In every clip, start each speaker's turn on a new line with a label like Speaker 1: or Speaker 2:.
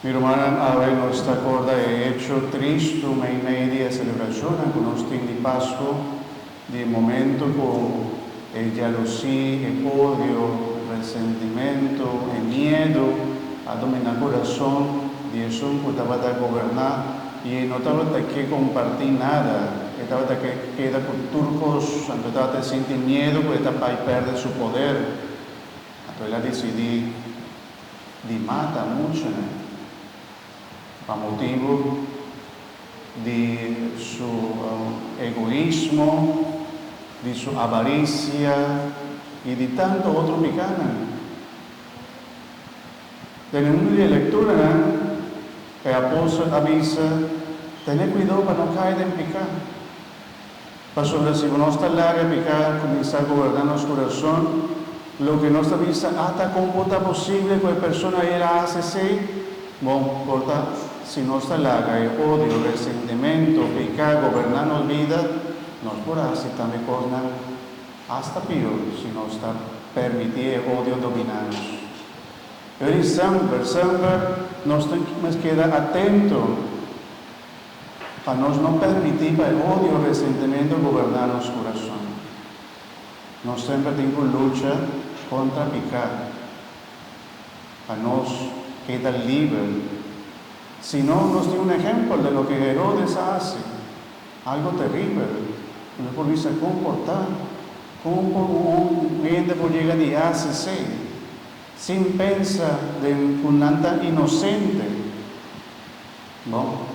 Speaker 1: Mi rumannan, awe nos ta corda e hecho tristu meimei di e celebracionnan cu nos tin di Pascu, di e momento cu e jaloesia, e odio, resentimento, e miedu a domina curason di esun cu tabata goberna y e no tabata ke comparti nada, e tabata ke keda cu tur cos, anto e tabata sinti miedu cu e ta bay perde su poder, anto el a dicidi. di mata muchanan pa motibu di su egoismo, di su avarisia y di tanto otro picanan. Den e mundo di e lecturanan e apóstol a bisa, Tene cuidao pa no cay den pica. Pasobra si bo nos ta laga peká, kuminsá goberná nos kurason, loke nos ta bisa ata kon por ta posible ku e persona ei el a hasi esei? Bon, por ta si nos ta laga e odio, resentementu, peká goberná nos bida, nos por a hasi tambe kosnan asta pior si nos ta pèrmití e odio dominá nos. Pero i sèmper, sèmper nos ta mester keda atentu. Pa nos no permití pa e odio resentementu goberná nos kurason. Nos semper tin ku lucha kontra piká pa nos keda liber. Si no, nos tin un ehèmpel den loke Herodes a hasi, algu teribel. Nos por bisa komportá. Kon por un hende por yega di hasi esei sin pensa den ku nan ta inosente? No.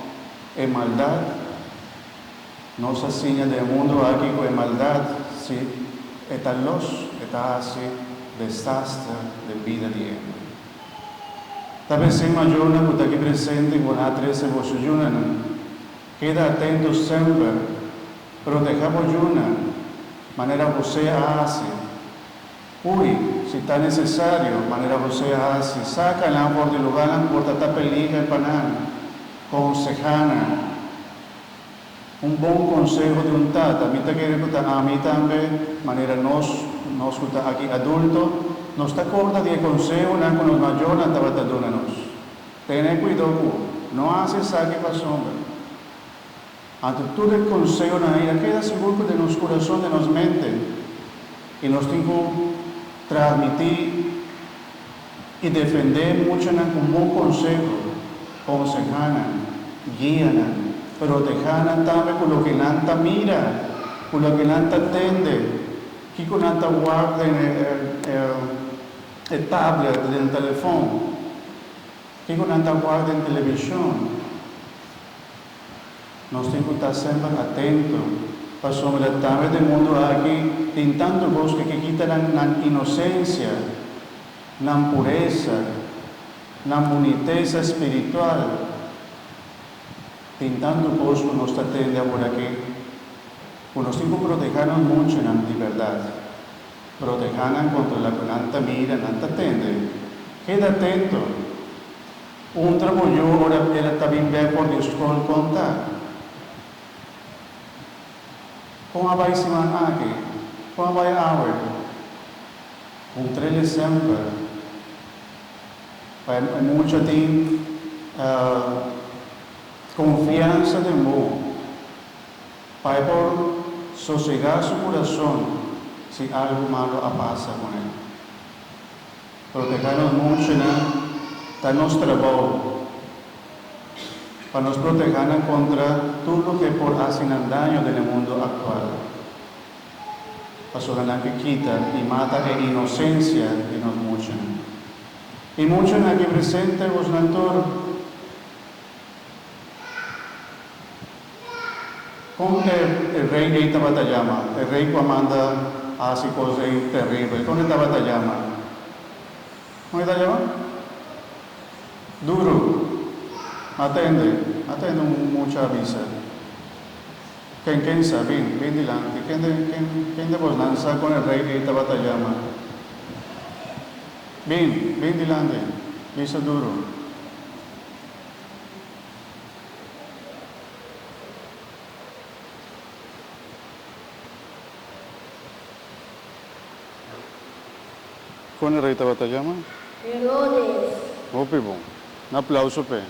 Speaker 1: E maldad, nos a siña den e mundu aki cu e maldad si e ta los e ta haci desaster den bida di hende. Ta besen mayornan cu ta aki presente cu na a trece boso yunanan, keda atento semper, pero deha bo yuna manera José a haci. Hui, si ta necesario, manera José a haci, saca nan for di lugarnan por ta ta peliger pa nan. Conseha nan. Un bon conseho di un tata, mi ta kere cu ta ami tambe, manera nos, nos cu ta aki adulto, nos ta corda di e consehonan cu nos mayornan tabata duna nos. Tene cuido cu no haci esaki pasobra. Anto tur e consehonan ei a keda sigur ku den nos kurason, den nos mente, i nos tin ku transmití i defendé muchanan ku bon konseho, konsehá nan, guia nan, protehá nan tambe ku loke nan ta mira, ku loke nan ta tende, kiko nan ta wak den e tablet, den telefon, kiko nan ta wak den televishon. Nos tin cu ta semper atento, pasobra tambe den mundu aki tin tantu cos cu ke kita nan nan inocencia, nan pureza, nan buniteza spiritual. Tin tantu cos cu nos ta tende aburaki, cu nos tin cu proteha nos munchunan di berdad, proteha nan contra loke nan ta mira, nan ta tende. Keda atento! Un trabouyo ora el a tabin bè for di e skol konta kon a bai siman aki, kon a bai awe, un trele semper pa e mucha tin konfiansa den bo pa e por sosega su kurason si algu malo a pasa kon el. Loke ta nos monshonan ta nos trabou pa nos protehanan kontra tur loke por hasi nan daño den e mundu aktual. Pasobra nan ke kita i mata e inosensia di nos monshonan. E monshonan aki presente, bos nan tur. Kon e e rei ei tabata yama, e rei ku a manda a hasi kos ei teribel? Kon e tabata yama? Kon e ta yama? Duru. Atende, atende un mucha a bisa. Ken ken sa, bin, bin dilanti. Ken de ken ken de bosnan sa kon e rei ei tabata yama? Bin, bin dilanti, bisa duru. Con e rey tabata yama? Herodes. Hopi bon. Un aplauso p'e.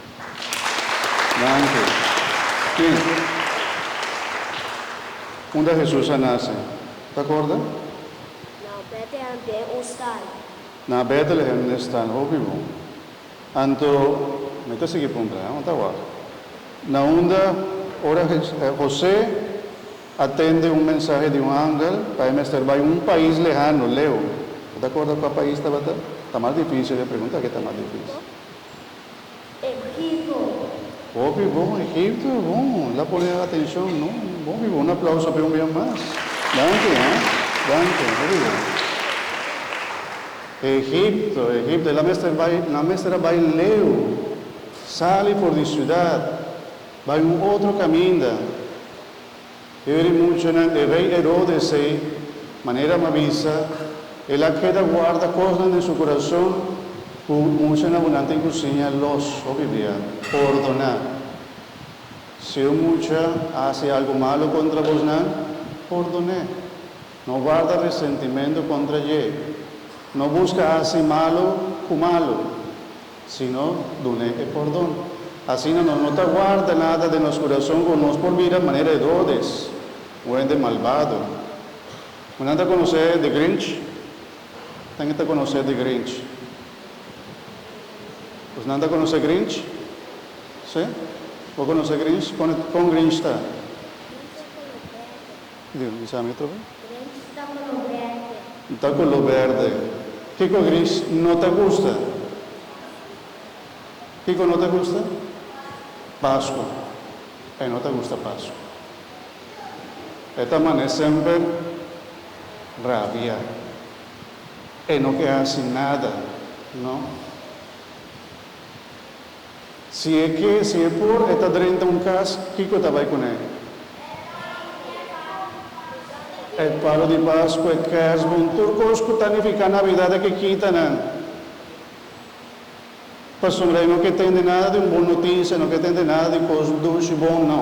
Speaker 1: Danki. Bien. Unda Hesus a nace? Ta corda? Na
Speaker 2: Bethlehem den un stal. Na Bethlehem
Speaker 1: den stal. Hopi bon. Anto mi ta sigui puntra, aun ta wak. Na unda ora José a tende un mensahe di un angel pa e mester bai un pais lehano, leu. Bo ta acorda cua pais tabata? Ta mas dificil e pregunta aki ta mas dificil. Egipto.
Speaker 2: Hopi bon,
Speaker 1: Egipto e bon. La pone atencion no. Hopi bon. Un aplauso pe un bia mas. Danki, eh. Danki. Hopi bon. Egipto, Egipto, el a mester bai, nan a mester a bai leu, sali for di siudat, bai un otro kaminda. E bai di muchanan, e rei Herodes ei, manera mi a bisa, el a keda guarda kosnan den su kurason ku muchan abundantenan ku siña los, hopi bia, pordoná. Si un mucha a hasi algu malu kontra bosnan, pordon'é. No guarda resentimentu kontra dje. No buska hasi malu ku malu, sino dun'é e pòrdon. Asina nos no ta guarda nada den nos kurason ku nos por mira manera Herodes ku hende malbado. Ku nan ta konosé The Grinch? Nan ke ta konosé The Grinch? Pues nan ta konosé Grinch? Sí? Bo konosé Grinch? Kon Grinch ta? Diga, bisa mi otro be. Gris ta color
Speaker 2: berde. Ta color
Speaker 1: berde. Kico gris no ta gusta? Kico no ta gusta? Pascua. Pascua. E no ta gusta Pascua. E ta mane semper rabia. E no ke haci nada, no. Si e ke, si e por, e ta drenta un kas, kiko ta bai kuné? E palo di Paskua, e kèrsbon, tur kos ku ta nifiká Navidat a ke kita nan. Pasobra e no ke tende nada di un bon notisia, no ke tende nada di kos dushi bon, nò.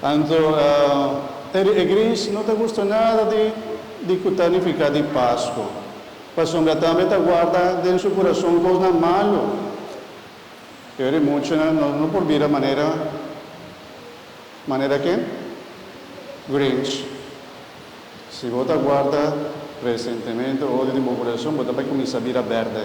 Speaker 1: Anto, e di e gris no ta gusta nada di ku ta nifiká di Pasko, pasobra tambe ta guarda den su kurason kosnan malu. Pero e di muchanan no por bira manera manera ken? Grinch. Si bo ta guarda resentimentu, odio den bo kurason, bo ta bai kuminsá bira bèrdè.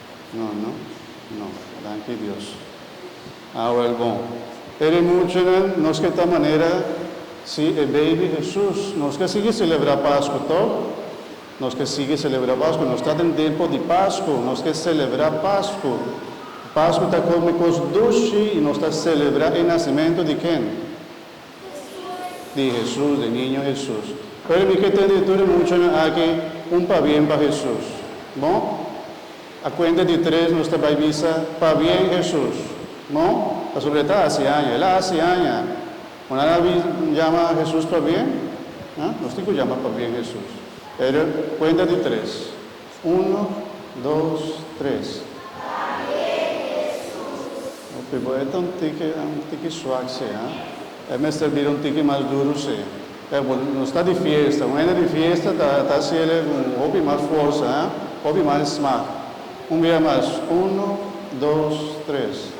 Speaker 1: No, no, no. Danki Dios. Awel bon. E di muchanan, nos ke ta manera si e baby Hesus. Nos ke sigui selebrá Pasku tok? Nos ke sigui selebrá Pasku. Nos ta den tempu di Pasku. Nos ke selebrá Pasku. Pasku ta kome kos dushi i nos ta selebrá e nasimentu di ken? di Hesus, di Niño Hesus. Pero mi ke tende di tur e muchanan aki un pabien pa Hesus. Bo? A kuenta di tres nos ta bai bisa, Pabien Hesus. Bo? Pasobra e ta hasi aña. El a hasi aña. Bo no a na jama Hesus pabien? Aa? Nos tin ku jama pabien Hesus. Pero kuenta di tres. Uno, dos, tres. Oke, bo e ta un tiki, un tiki suak si, ha? E mester bira un tiki mas duru si. Kaya, bo no sta di fiesta. Un hende di fiesta ta ta hasi ele ku un hopi mas forsa, ha? Hopi mas smak. Un bia mas. Uno, dos, tres.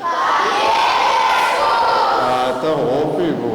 Speaker 1: A ta hopi bo.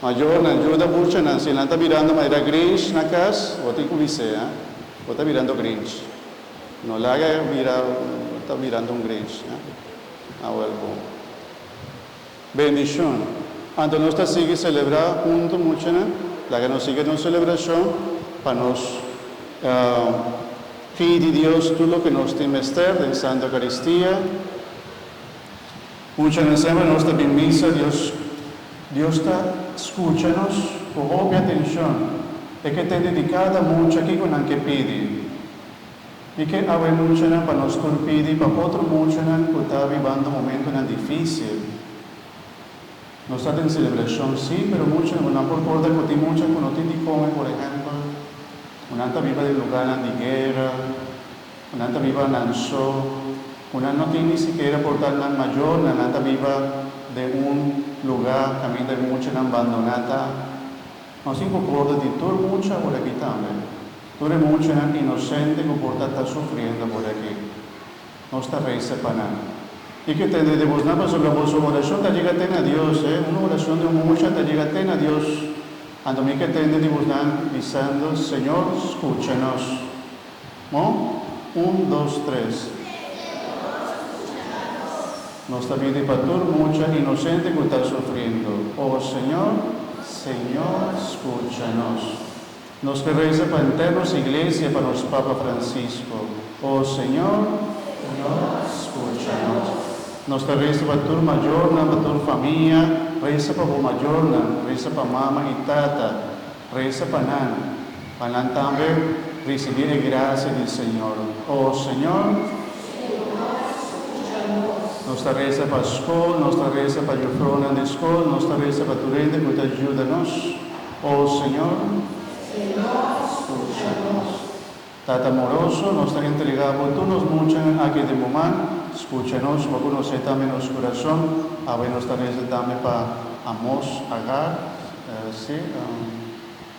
Speaker 1: Mayornan, yuda buchanan. Si nan ta mirando manera Grinch na cas, bo tin cu bis'é, ha? Bo ta mirando Grinch. No laga e mira, bo ta mirando un Grinch, ha? Awel, bon. Bendicion. Anto nos ta sigui celebra hunto, muchanan, laga nos sigui nos celebracion pa nos pidi Dios tur loke nos tin mester den Santa Eucaristia. Mucha na sema nos ta bin misa, Dios Dios ta skucha nos ku hopi atenshon. E ke tende di kada mucha kiko nan ke pidi. Mi ke awe muchanan pa nos tur pidi pa otro muchanan ku ta bibando momentunan difísil. Nos ta den selebrashon sí, pero mucha bo nan por korda ku tin mucha ku no tin di kome, por ehèmpel, bo nan ta biba den lugánan di guera, Nan ta biba nan so ku nan no tin ni sikiera por ta nan mayornan. Nan ta biba den un lugá kaminda e muchanan bandoná ta. Nos tin ku korda di tur mucha por aki tambe, tur e muchanan inosente ku por ta ta sufriendo por aki. Nos ta resa pa nan. Kiko e tende di bosnan? Pasobra boso orashon ta yega te na Dios. He, un orashon di un mucha ta yega te na Dios. Anto mi ke tende di bosnan bisando, Señor, skucha nos. Mo, un, dos, tres. Nos ta bidi pa tur mucha inosente cu ta sufrindo. O Señor. Señor, scucha nos. Nos ta reza pa henter nos Iglesia, pa nos Papa Francisco. O Señor. Señor, scucha nos. Nos ta reza pa tur mayornan, pa tur famia. Reza pa bo mayornan. Reza pa mama y tata. Reza pa nan. Pa nan tambe ricibi e gracia di Señor. O Señor. Señor, scucha nos. Nos ta reza pa scol, nos ta reza pa jufrounan di scol, nos ta reza pa tur hende cu ta juda nos. O Señor. Señor, scucha nos. Tata amoroso, nos ta entrega Bo tur nos muchanan aki den Bo man. Scucha nos, Bo conoce tambe nos curason. Awe nos ta reza tambe pa amos, Agar, si.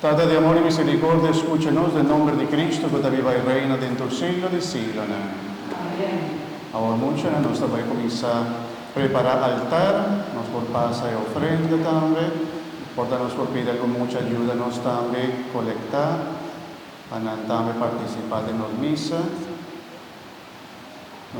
Speaker 1: Tata di amor i misericordia, escucha nos den nomber di Cristo cu ta biba i reina den tur siglo di siglonan. Amen.
Speaker 3: Awor muchanan
Speaker 1: nos ta bai cuminsa prepara altar, nos por pasa e ofrenda tambe, por ta nos por pidi algun mucha yuda nos tambe colecta pa nan tambe participa den nos misa.